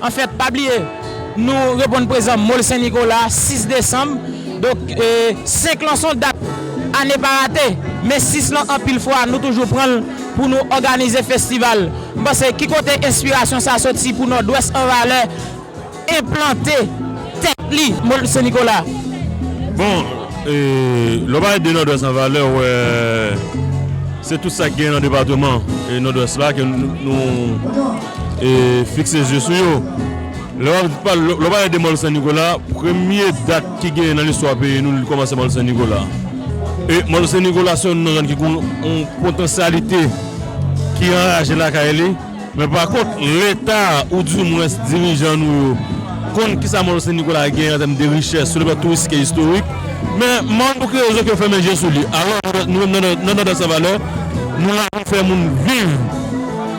Anfèt, pa bliye nou reponn prezan Mall Sen Nikola 6 desanm. Donk 5 lan son dat ane pa rate, men 6 lan anpil fwa nou toujou pran l pou nou òganize festival. M panse ki kote enspirasyon sa soti pou Nòdwès an valè enplante tèt li Mall Sen Nikola? Bon, lè w pale de Nòdwès an valè ou wè se tout sa ki gen nan depateman Nòdwès la ke nou. E fikse zye sou yo. Lè wap pale, lè wap pale de mòl Sen Nikola, premye dat ki genyen nan listwa peyi nou, li kòmanse mòl Sen Nikola. E mòl Sen Nikola se youn nan zòn ki gen yon potansyalite ki anraje lakay li. Men pa kont, leta ou di mwens dirijan nou yo konn kisa mòl Sen Nikola genyen an tèm de richès sou le plan touristik e istorik. Men mòl nou kreye zòt yo fèmen je sou li. Alò nou menm nan Nòdès an valè, nou la pou fè moun viv.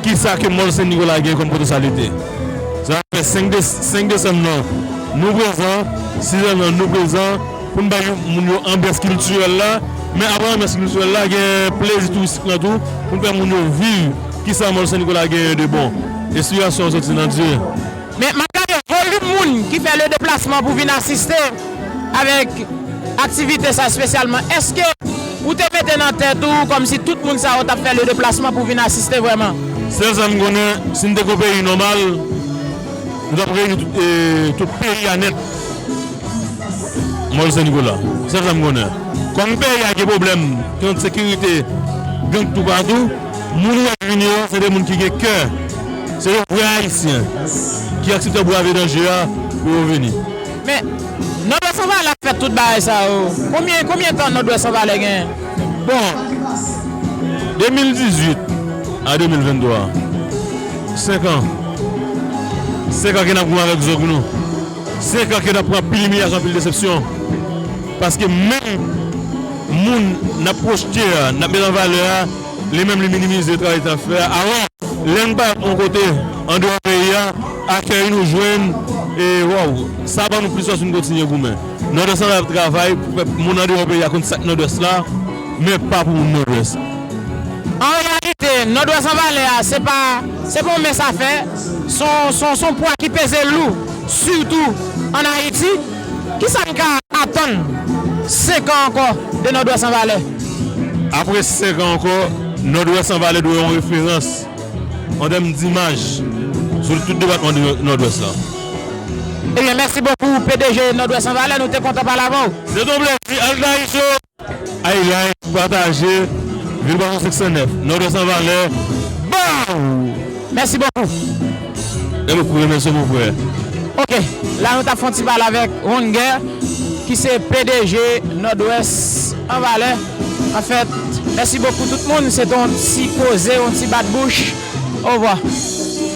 Ki sa ke Mòl Sen Nikola gen kòm potansyalite? Sa a fè 5 de 5 desanm nan nou prezan, 6 desanm nan nou prezan pou n bay moun yo anbyans kiltirèl la. Men apre anbyans kiltirèl la gen plezi touristik lan tou pou n fè moun yo viv ki sa Mòl Sen Nikola genyen de bon. Enspirasyon an soti nan Dye. Men, m ap gade volim moun ki fè le deplasman pou vin asiste avèk aktivite sa espesyalman. Èske ou te mete nan tèt ou kòmsi tout moun sa yo t ap fè le deplasman pou vin asiste vrèman? Sèl sa m konnen, si n te gen yon peyi nòmal, nou t ap reyini tout peyi a nèt Mòl Sen Nikola. Sèl sa m konnen. Kòm peyi a gen pwoblèm kont sekirite, gang toupatou. Moun ou ap vini yo se de moun ki gen kè, se de vrè Ayisyen ki aksepte brave danje a pou yo vini. Men, Nòdwès an valè ap fè tout bagay sa yo. Konbyen, konbyen tan Nòdwès an valè gen? Bon, 2018 a 2023, 5 an. 5 an ke n ap goumen avèk zòg nou. 5 ans ke nap pran anpil imilyasyon anpil desepsyon paske menm moun nap pwochte a nap met an valè a li menm li minimize travay nap fè a alò lè nou pale yon kote andeyò peyi a akèy nou jwenn e waww sa ban nou plis fòs pou nou kontinye goumen nòdwès lan ap travay pou fè moun andeyò peyi a konn sak nòdwès la men pa pou moun nòdwès. An reyalite, Nòdwès an valè a se pa se pa yon mens afè. Son pwa ki peze lou sitou an Ayiti. Kisa n ka atann 5 an ankò de Nòdwès an valè? Apre 5 an ankò, Nòdwès an valè dwe yon referans an tèm dimaj sou tout depatman Nòdwès la. Ebyen mèsi bokou pdg Nòdwès an valè nou te kontan pale avè w. Se te yon plezi, al trayisyon! Ay like pou pataje vil bò nou 509 nòdwès an valè baww. Mèsi bokou. Mè bokou remèsye mon frè. Ok la nou tap fon ti pale avèk Rongè ki se pdg nòdwès an valè anfèt mèsi bokou tout moun se te yon ti koze yon ti bat bouch ovwa.